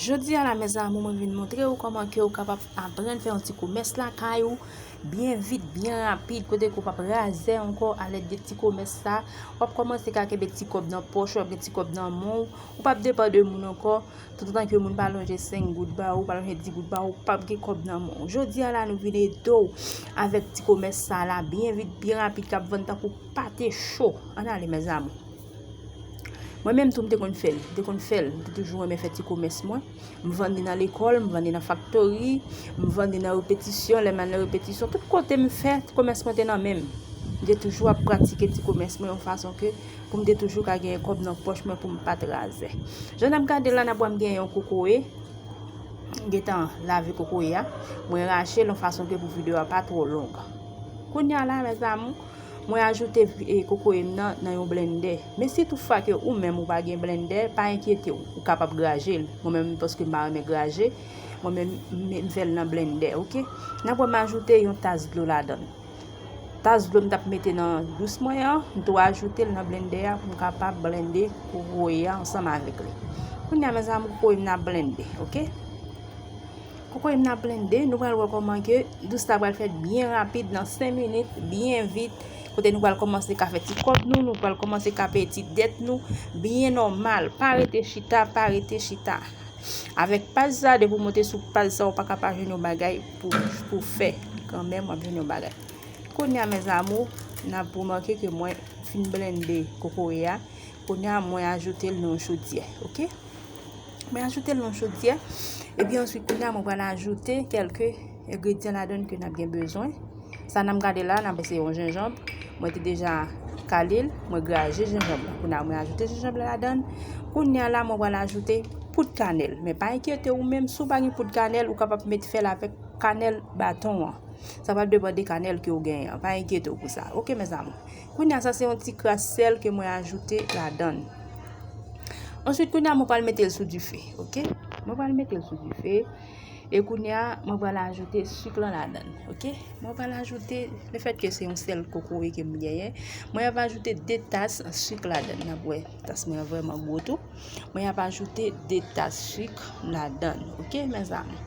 Jodi a la mes amour mwen vin montre ou koman ke ou kapab aprann fè yon ti komès lakay ou byen vit, byen rapid kote ke ou pap razè ankò a lèd de ti komès sa wap komanse ka kenbe ti kòb nan pòch ou, wap gen ti kòb nan men ou ou pap depan de moun ankò tout otan ke moun pa lonje 5 goud ba ou, pa lonje 10 goud ba ou, ou pap gen kòb nan men ou jodi a la nou vin ede ou avèk ti komès sa la byen vit, byen rapid kap vann tankou pate cho an ale mes amour. Mwen menm tou m te konn fè l, m te konn fè l, m te toujou renmen fè ti komès mwen. M vann li nan lekòl, m vann li nan faktori, m vann li nan repetisyon, lè m al nan repetisyon. Tout kote m fè, ti komès mwen te nan men m. M te toujou ap pratike ti komès mwen yon fason ke pou m te toujou ka genyen kòb nan pòch mwen pou m pa t razè. Jan n ap gade la, n ap wè m genyen yon kokoye, m gen tan lave kokoye a, mwen rache l yon fason ke pou videyo a pa twò long. Kounya la, mèzamou, Mwen ajoute kokoye m nan nan yon blennde. Men si tou fwa ke ou menm ou pa gen blennde, pa enkyete w, ou kapab graje l. Mwen menm paske m pa renmen graje, mwen menm m fè l nan blennde, ok. Nan pwen m ajoute yon tas dlo ladan l. Tas dlo m t ap mete nan dous mwen an, m tou ajoute l nan blennde a pou m kapab blennde kokoye a ansanm avèk li. Kounya mezanmi kokoye m nan ap blennde, ok. Kokoy m nan blende, nou pral wè kòman ke dous la pral fèt byen rapid nan 5 minit, byen vit, kote nou pral kòmanse ka fè ti kòb nou, nou pral kòmanse ka peye ti dèt nou, byen nòmal, pa rete chita, pa rete chita. Avèk paj sa, depi w monte sou paj sa, ou pa ka pa jwenn yon bagay pou fè, kanmenm w ap jwenn yon bagay. Kounya mes amours, n ap remake ke mwen fin blende kokoye a, kounya mwen ajoute l nan yon chodyè, ok. Mwen ajoute l nan chodyè. E pi answit kounye a mwen pral ajoute kelke engredyan ladann ke n ap gen bezwen. Sa nan m gade la, nan m wè se yon jenjanb. Mwen te deja kale l, mwen graje jenjanb la. Kounye a mwen ajoute jenjanb la ladann. Kounye a la mwen pral ajoute poud kanèl. Men pa enkyete ou menm, si w pa gen poud kanèl, ou kapab met fè l avèk kanèl baton an. Sa pral depande kanèl ke ou genyen an. Pa enkyete w pou sa. Ok mèzanmi. Kounya sa se yon ti kras sèl ke mwen ajoute ladann. Answit kounya mwen pral metel sou dife. Ok. Mwen pral metel sou dife. E kounya mwen pral ajoute suk lan ladann. Ok. Mwen pral ajoute, le fèt ke se yon sèl kokoye ke mwen genyen, mwen ap ajoute 2 tas suk ladann. Nap wè, tas mwen an vreman gwo tou. Mwen ap ajoute 2 tas suk ladann. Ok mèzanmi.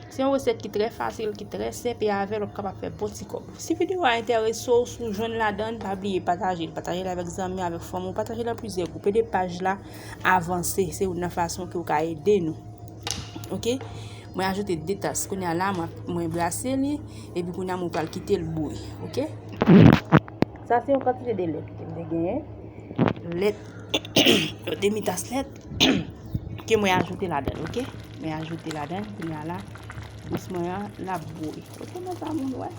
Se yon resèt ki trè fasil, ki trè senp e avèl wap kapab fè bon ti kòb. Si videyo a enterese w, si w jwenn ladann, pa bliye pataje l, pataje l avèk zanmi, avèk fanmi w, pataje l an plizyè gwoup, ede paj la avanse, se youn nan fason ke w ka ede nou. Ok, mwen ajoute 2 tas, kounye a la mwen brase li, epi kounye a mwen pral kite l bouyi, ok. Sa se yon kantite de lèt ke mwen te genyen, lèt, yon demi tas lèt. ke mwen ajoute ladan ok mwen ajoute ladan kounya la bous mwen an la bouyi ok mwen sa moun wè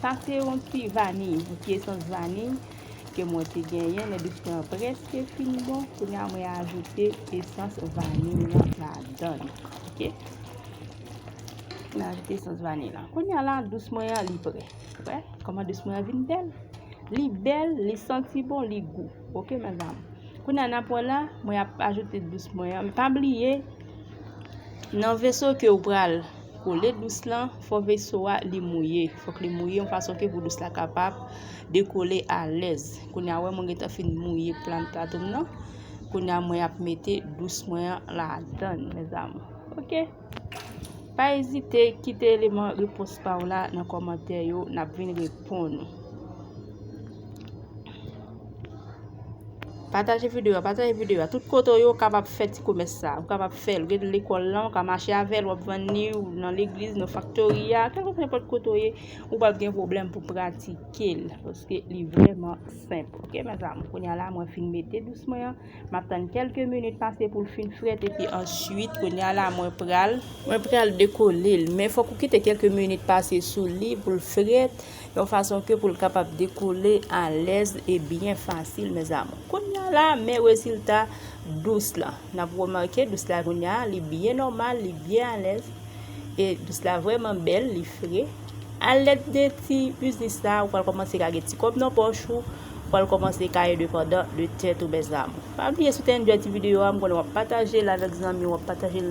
sa se yon ti vani yon ti esans vani ke mwen te genyen lè bous mwen an preske fin bon kounya mwen ajoute esans vani lan ladan ok mwen ajoute esans vani lan kounya la bous mwen an li pre wè kouman bous mwen an vin bèl li bèl li santi bon li gou Ok madame. Kounye a nap wè la, mwen ap ajoute dous mwen an. Pa bliye nan veso ke ou pral kole dous lan, fò veso a li mouye. Fòk li mouye yon fason ke pou dous la kapab dekole alèz. Kounye a wè mwen gentan fin mouye plan plato m nan. Kounye a mwen ap mete dous mwen an ladann mes amours. Ok. Pa ezite kite eleman repons pa w la nan kòmantè yo n ap vin reponn ou. Pataje videyo a, pataje videyo a. Tout kote yo kapab fè ti komès sa. Ou kapab fè l. Gen lekòl lan, ou ka mache avèl, wap vann ni ou nan legliz, nan faktori a. Kèk ou fè pot koto ye, ou pap gen problem pou pratike l. Paske li vreman senp. Ok, mè zanm. Konya la mwen fin mete dous mwen an. Map tann kelke minit pase poul fin fret epi answit kounya la mwen pral mwen pral dekolel men fok ou kite kelke minit pase sou li poul fret yon fason ke poul kapab dekole alez e byen fasil mezamou. Kounya la men rezilta dous la. Nap remake dous la kounya li byen nomal, li byen alez e dous la vreman bel, li fre. A lèd de ti biznis sa ou pral kòmanse ka gen ti kòb nan pòch ou, ou pral kòmanse ka endepandan de tèt ou mes amour. Pa bliye si w te enjoy ti videyo a m konnen w ap pataje l avèk zanmi w, w ap pataje l.